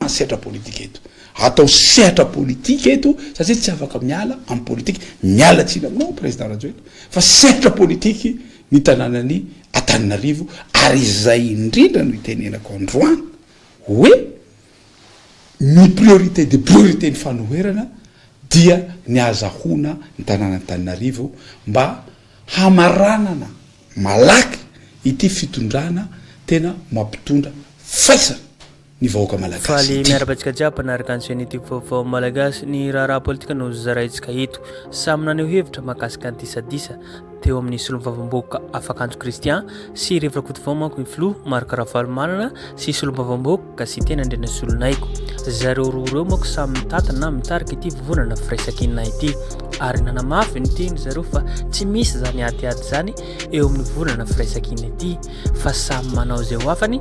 ny sehatra politika eto. Atao sehatra politika eto satria tsy afaka miala amin'ny politika. Miala tsiny aminao Président Rajoelina fa sehatra politika ny tanànan'i Antananarivo ary izay indrindra no itenenako androany hoe ny priorité des priorités ny fanoherana dia ny ahazahoana ny tanàn'Antananarivo mba hamaranana malaky ity fitondrana tena mampitondra faisana. ny vahoaka malagasy ity. Faly miarahaba antsika jiaby mpanaraka ny chaîne youtube vaovao malagasy, ny raharaha politika no zaraintsika eto. Samy naneho hevitra mahakasika ny disadisa teo amin'ny solon'ny vavambahoaka Afakanjo Christian sy Rev Rakotovao manko ny filoha Marc Ravalomanana sy solombavambahoaka Gasiteny Andrianasolonaigo. Zareo roa ireo manko samy mitantana na mitarika ity vovonana firaisankina ity ary nanamafy ny teniny zareo fa tsy misy izany adiady izany eo amin'ny vovonana firaisankina ity. fa samy manao izay ho afany,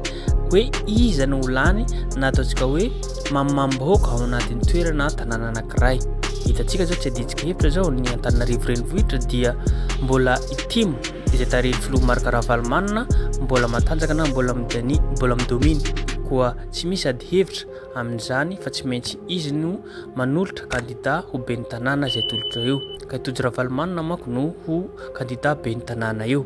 hoe iza no ho lany na ataontsika hoe mamimam-bahoaka ao anatin'ny toerana na tanàna anankiray. Hitantsika izao tsy adintsika hevitra izao ny Antananarivo renivohitra dia mbola itimo izay tarehin'ny filoha Marc Ravalomanana mbola matanjaka na mbola midani mbola midomina koa tsy misy ady hevitra amin'izany fa tsy maintsy izy no manolotra kandida ho ben'ny tanàna izay tolotra eo ka i Tojo Ravalomanana manko no ho kandida ben'ny tanàna eo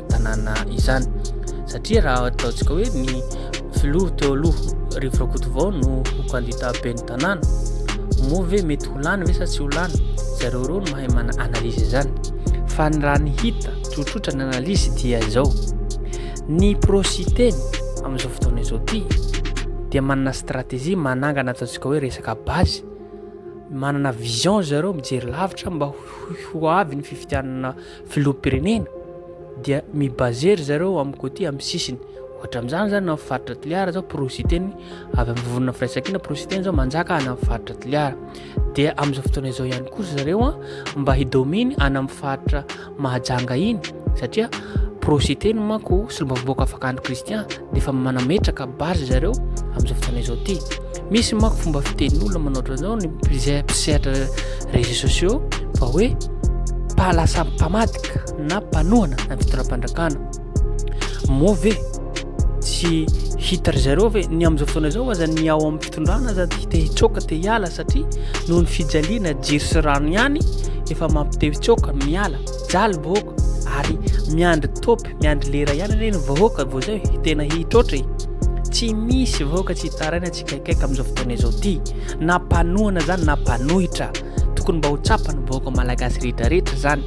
tanàna izany satria raha ataontsika hoe ny filoha teo aloha rivo rakotovao no ho kandida ben'ny tanàna moa ve mety ho lany ve sa tsy ho lany zareo reo no mahay mana analyse izany fa ny raha ny hita tsotsotra ny analyse dia izao ny prositeny amin'izao fotoana izao ty dia manana stratégie manangana ataontsika hoe resaka basy manana vision zareo mijery lavitra mba ho avy ny fifidianana Filoham-pirenena dia mi-baser ry zareo amin'ny côté amin'ny sisiny. Ohatra amin'izany zany amin'ny faritra Toliara zao porositeny avy amin'ny vovonana firaisankina porositeny zao manjaka any amin'ny faritra Toliara. Dia amin'izao fotoana izao ihany koa zareo an mba hidominy any amin'ny faritra Mahajanga iny satria porositeny manko solombavambahoaka fakandro Christian dia efa manametraka base zareo amin'izao fotoana izao ty misy mako fomba fitenin'olona manao ohatran'izao ny mpisehatra réseaux sociaux fa hoe pahalasa mpamadika na mpanohana na fitondram-pandrakana moa ve tsy hita ry zareo ve ny amin'izao fotoana izao aza ny ao amin'ny fitondrana aza ty te hitsoaka te hiala satria noho ny fijaliana jiry sy rano ihany efa mampitehitsoaka miala jaly vahoaka ary miandry topy miandry lera ihany anie ny vahoaka vao zay tena hitroatra e tsy misy vahoaka tsy hitaraina tsy kaikaika amin'izao fotoana izao ty na mpanohana zany na mpanohitra tokony mba ho tsapa ny vahoaka malagasy rehetrarehetra zany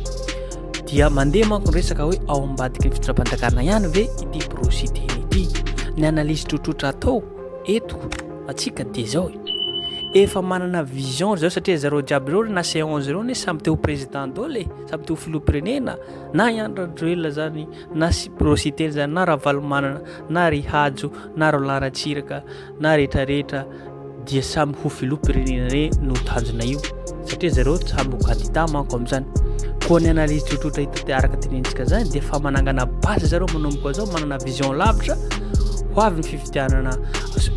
dia mandeha manko ny resaka hoe ao ambadiky ny fitondram-panjakana ihany ve ity prosy teny ity ny analyse trotrotra atao eto atsika dia zao e efa manana vision zao satria zareo jiaby reo na seance reo ne samy teo président dole samy teo filoha-pirenena Na i Andry Rajoelina izany, na Sipy Rositeny izany, na Ravalomanana, na ry Hajo, na Roland Ratsiraka, na rehetra rehetra dia samy ho filoham-pirenena re no tanjona io satria zareo samy ho kandida manko amin'izany. Koa ny analyse tsotsotra hita araka tenentsika izany dia fa manangana base zareo manomboka izao manana vision lavitra ho avy ny fifidianana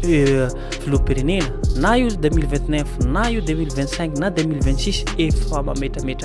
euh, filoham-pirenena na io 2029 na io 2025 na 2026 efa mametrametra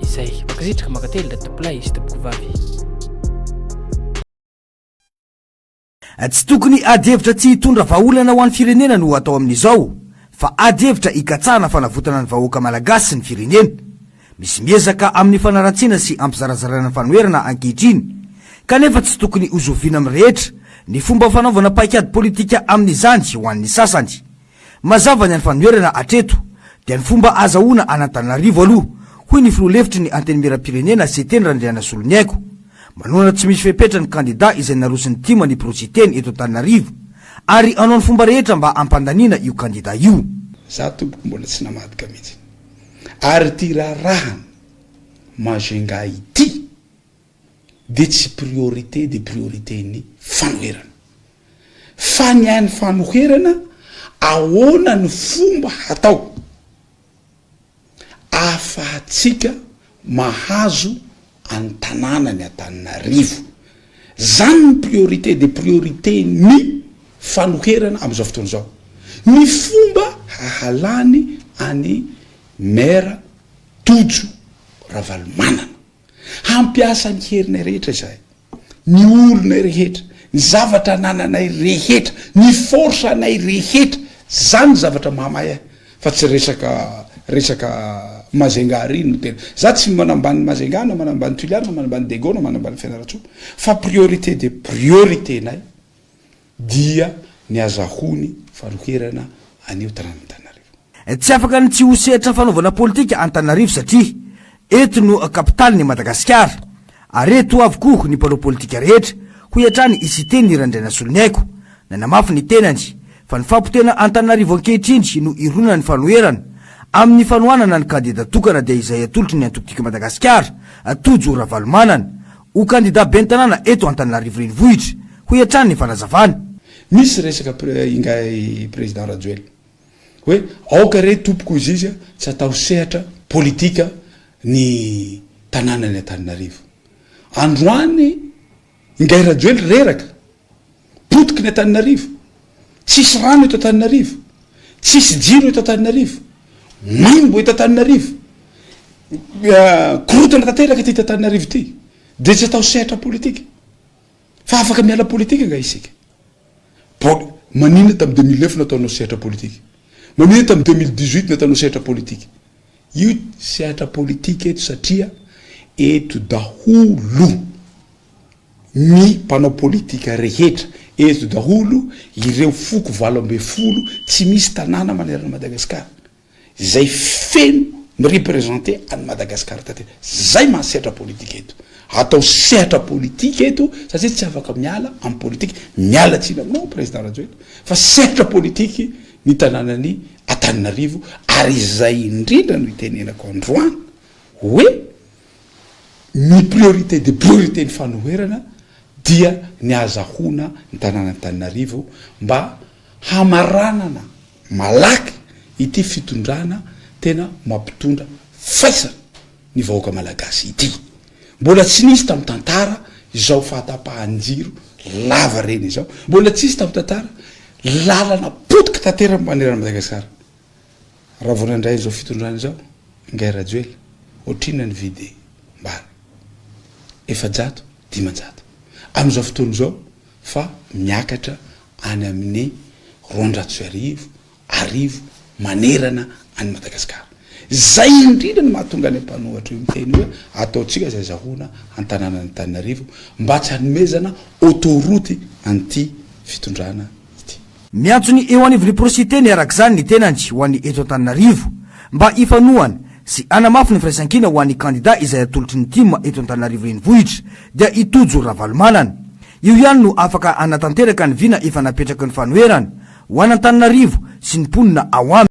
izay. Mankasitraka, mankatelina ry tompolahy sy tompoko vavy. Tsy tokony ady hevitra tsy hitondra vahaolana ho an'ny firenena no atao amin'izao fa ady hevitra hikatsahana fanavotana ny vahoaka Malagasy sy ny firenena. Misy miezaka amin'ny fanaratsiana sy hampizarazaraina ny fanoherana ankehitriny kanefa tsy tokony hozoviana amin'ny rehetra ny fomba fanaovana paikady politika amin'izany ho an'ny sasany. Mazava ny anfanoherana hatreto dia ny fomba hazahoana an'Antananarivo aloha, hoy ny filoha lefitry ny Antenimierampirenena, Seteny Randrianasoloniaiko. Manohana tsy misy fepetra ny kandida izay naroson'ny tim ny biro Seteny eto Antananarivo ary hanao ny fomba rehetra mba hampandaniana io kandida io. Za tompoko mbola tsy namadika mihitsy ary ty raharahan majunga ity. dia tsy priorité dia priorité ny fanoherana. Fa ny an'ny fanoherana ahoana ny fomba hatao ahafahantsika mahazo an'ny tanàna ny Antananarivo. Zany ny priorité dia priorité ny fanoherana amin'izao fotoana izao. Ny fomba hahalany an'i Maire Tojo Ravalomanana. Hampiasa ny herinay rehetra izahay, ny olonay rehetra, ny zavatra anananay rehetra, ny force anay rehetra, zany ny zavatra mahamay ahy fa tsy resaka resaka Majunga ary iny no tena, za tsy manambany Majunga na manambany Tulia na manambany Dego na manambany Fianarantsoa fa priorité dia priorité nay, Dia ny azahoany fanoherana anio taran'Antananarivo. Tsy afaka ny tsy ho sehatra fanaovana politika Antananarivo satria eto no kapitalin'i Madagasikara ary eto avokoa ny mpanao politika rehetra, hoy hatrany i Siteny Randrianasoloniaiko. Nanamafy ny tenany fa ny fampotehana Antananarivo ankehitriny no ironana ny fanoherana amin'ny fanohanana ny kandida tokana dia izay atolotry ny antoko Tika Madagasikara, Tojo Ravalomanana. Ho kandida ben'ny tanàna eto Antananarivo Renivohitra, hoy hatrany ny fanazavany. Misy resaka ingahy Président Rajoelina hoe aoka re tompoko hoy izy tsy atao sehatra politika ny tanànan'i Antananarivo. Androany ingahy Rajoely reraka Potiky ny Antananarivo. Tsisy rano eto Antananarivo. Tsisy jiro eto Antananarivo. Maimbo eto Antananarivo. Korontana tanteraka ity Antananarivo ity. Dia tsy atao sehatra politika. Fa afaka miala politika nga isika. Maninona tamin'ny deux mille neuf nataonao sehatra politika? Maninona tamin'ny deux mille dix-huit nataonao sehatra politika? Io sehatra politika eto satria eto daholo. Ny mpanao politika rehetra eto daholo ireo foko valo ambin'ny folo tsy misy tanàna manerana an'i Madagasikara izay feno mi-representer an'i Madagasikara taty. Zay maha sehatra politika eto. Atao sehatra politika eto satria tsy afaka miala amin'ny politika. Miala tsiny aminao Président Rajoelina fa sehatra politika ny tanànan'i Antananarivo ary izay indrindra no itenenako androany hoe, ny priorité des priorités ny fanoherana dia ny ahazahoana ny tanàn'Antananarivo mba hamaranana malaky ity fitondrana tena mampitondra faisana ny vahoaka malagasy ity. Mbola tsy nisy tamin'ny tantara izao fahatapahan-jiro lavareny izao, mbola tsy nisy tamin'ny tantara lalana potika tanteraka manerana an'i Madagasikara. Raha vao nandray izao fitondrana izao ingahy Rajoelina, ohatrinona ny vidy mbana? Efajato, dimanjato. Amin'izao fotoana izao fa miakatra any amin'ny roanjato sy arivo arivo manerana an'i Madagasikara. Izay indrindra no mahatonga any mpanohatra io miteny hoe ataontsika izay azahoana an-tanànan'Antananarivo mba tsy hanomezana autoroute an'ity fitondrana. ity. Miantso ny eo anivon'ny porositeny araka izany ny tenany ho an'ny eto Antananarivo mba hifanohana sy hanamafy ny firaisankina ho an'ny kandida izay atolotry ny tim eto Antananarivo renivohitra dia i Tojo Ravalomanana. Io ihany no afaka hanatanteraka ny vina efa napetraky ny fanoherana ho an'Antananarivo sy ny mponina ao aminy.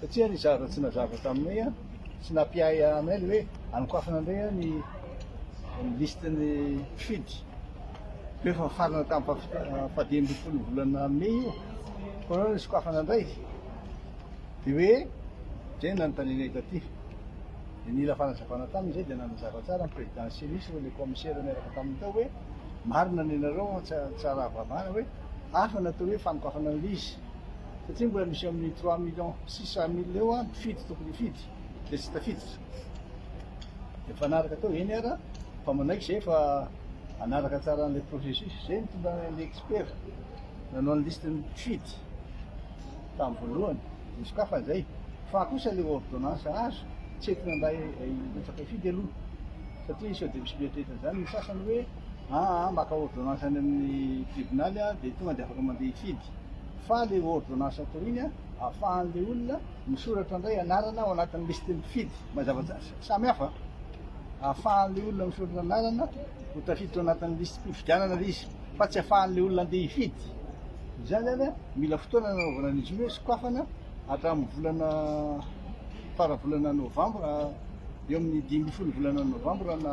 Satria ry Zara tsy nazava taminay an, tsy nampiahy anay le hoe anokafana indray an ny liste ny mpifidy, koa efa nifarana tamin'ny faha faha dimy ambin'ny folo ny volana mey io, koa anao nisokafana indray, de hoe zay no nanontanianay taty, de nila fanazavana taminy zay, de nanazava tsara ny président ny Cenis ireo le commissaire niaraka taminy tao hoe marina ny anareo fa tsy tsy raha vavana hoe hafa ny atao hoe fanokafana ny liste. satria mbola misy amin'ny trois millions six cent mille eo an mpifidy tokony hifidy dia tsy tafiditra dia mpanaraka tao eny ara fa manaiky izay fa hanaraka tsara an'ilay processus izay ny tonga ny expert nanao ny liste ny mpifidy tamin'ny voalohany dia sokafany izay fa kosa ilay ordonnance azo tsy entina mba hilatsaka hifidy aloha satria sao dia misy mieritreritra an'izany ny sasany hoe aa maka ordonnance any amin'ny tribonaly aho dia tonga dia afaka mandeha hifidy fa le ordonnance atao iny an afahan'le olona misoratra indray anarana ao anatin'ny listin'ny mpifidy mazava tsara samy hafa afahan'le olona misoratra anarana ho tafiditra ao anatin'ny listim-pifidianana le izy fa tsy afahan'le olona andeha hifidy izany zany an mila fotoana nanaovana an'izy io hoe sokafana hatramin'ny volana fara volana novambra eo amin'ny dimy ambin'ny folo volana novambra na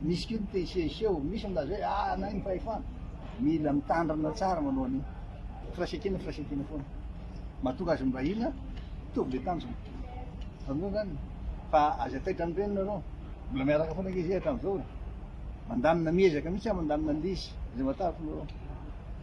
misy koa ny te hisehoseho, misy ny laza hoe ah anay ny fahefana, mila mitandrina tsara manao an'io, firaisankina firaisankina foana, mahatonga azy mibahina, mitovy le tanjona, azonareo izany? fa aza taitra ny reniny nareo, mbola miaraka foana ange zay hatramizao e, mandamina miezaka mihitsy aho mandamina an'ilay izy, izay mahatakatra nareo.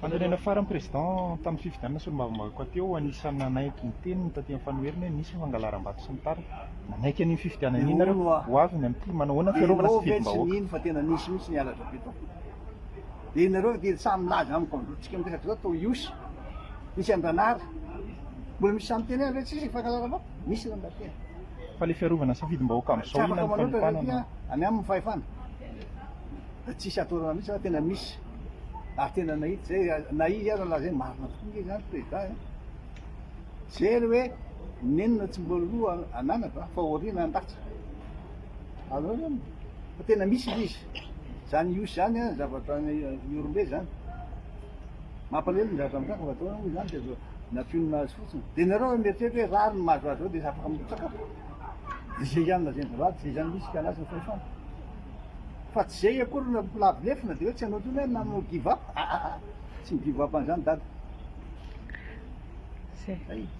Fanorenana farany Président, tamin'ny fifidianana solombavambahoaka teo, anisan'ny nanaiky ny teniny taty amin'ny fanoherana hoe misy ny fangalaram-bato sy ny tariny. Nanaiky an'iny fifidianana iny nareo, ho avy ny amin'ity, manao ahoana ny fiarovana sy ny fidimbahoaka? Misy lamba tia. Fa le fiarovana safidim-bahoaka amizao inona ny fanipana no. Any aminy fahefana. Dia tsisy atodana mihitsy fa tena misy. Ary tena nahita zay na izy aza lazainy marina tokoa nge zany président eh. Jery hoe nenina tsy mbola loha ananatra fa aoriana andatsa. Azonao zany? Fa tena misy ilay izy. Zany Ihosy zany an zavatra Ihorombe zany. Mampalahelo ny zatra mitranga fa atao hoe izany dia azo nampionona azy fotsiny. Dia nareo raha mieritreritra hoe rariny mahazo azy zao dia afaka mirotsaka fa dia zay ihany lazain'dry rad zay ihany misy kalaza ny fahefana. Fa tsy zay akory no lavo lefona dia hoe tsy hanao intsony hoe nanao give up, aa tsy mi-give up an'izany dada.